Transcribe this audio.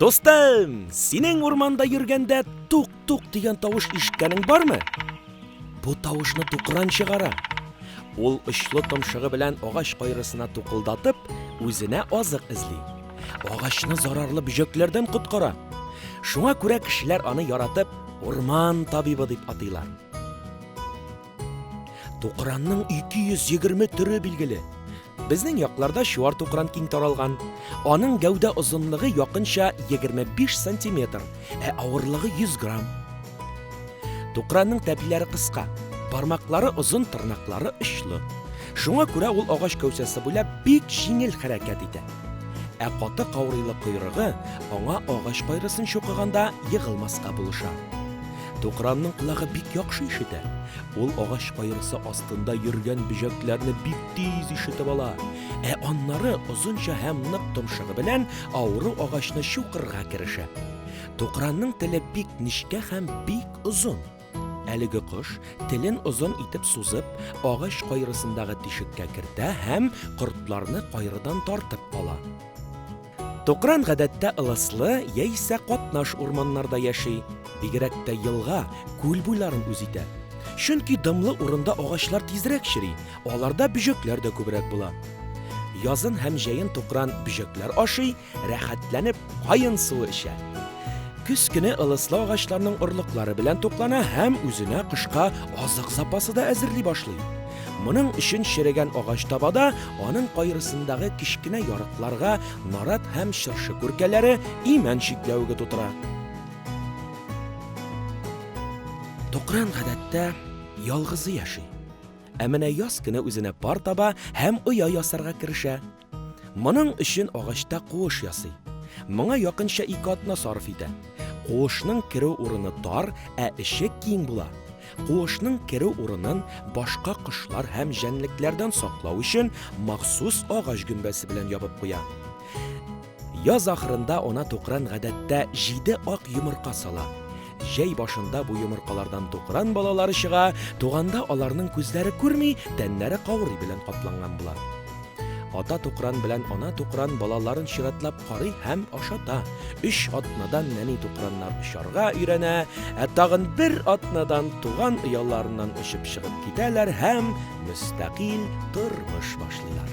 Дустым, синең урманда йөргәндә тук-тук дигән тавыш ишеткәнең бармы? Бу тавышны тукран чыгара. Ул очлы томшыгы белән агач кайрысына тукылдатып, үзенә азык эзли. Агачны зарарлы бөҗәкләрдән коткара. Шуңа күрә кешеләр аны яратып урман табибы дип атыйлар. Тукранның 220 төре билгеле. Безнең якларда чуар тукран киң таралган. Аның гәүдә озынлыгы якынча 25 сантиметр, ә авырлыгы 100 грамм. Тукранның тәпиләре кыска, бармаклары озын, тырнаклары очлы. Шуңа күрә ул агач кәүсәсе буйлап бик җиңел хәрәкәт итә. Ә каты каурыйлы койрыгы аңа агач кайрысын чукыганда егылмаска булыша. Тукранның колагы бик яхшы ишетә. Ул агач каерысы астында йөргән бөҗәкләрне бик тиз ишетеп ала. Ә аннары озынча һәм нык томшыгы белән авыру агачны чукырга керешә. Тукранның теле бик нечкә һәм бик озын. Әлеге кош телен озын итеп сузып, агач кайрысындагы тишеккә кертә һәм кортларны кайрыдан тартып ала. Тукран гадәттә ылыслы яисә катнаш урманнарда яши, бигрәк тә елга, күл буйларын үз итә. Чөнки дымлы урында агачлар тизрәк чери, аларда бөҗәкләр дә күбрәк була. Язын һәм җәен тукран бөҗәкләр ашый, рәхәтләнеп каен суы эчә. Көз көне ылыслы агачларның орлыклары белән туклана һәм үзенә кышка азык запасы да әзерли башлый. Моның өчен черегән агач табада, аның кайрысындагы кечкенә ярыкларга нарат һәм чыршы күркәләре имән чикләвеге тутыра. Токран гадәттә ялгызы яши. Ә менә яз көне үзенә пар таба һәм оя ясарга керешә. Моның өчен агачта куыш ясый. Моңа якынча ике атна сарыф итә. Куышның керү урыны тар, ә эче киң була. Куышның керү урынын башка кошлар һәм җәнлекләрдән саклау өчен махсус агач гөмбәсе белән ябып куя. Яз ахырында ана тукран гадәттә җиде ак йомырка сала. Җәй башында бу йомыркалардан тукран балалары чыга, туганда аларның күзләре күрми, тәннәре каурый белән капланган була. Ата тукран белән ана тукран балаларын чиратлап карый һәм ашата. Өч атнадан нәни тукраннар очарга өйрәнә, ә тагын бер атнадан туган ояларыннан очып чыгып китәләр һәм мөстәкыйль тормыш башлыйлар.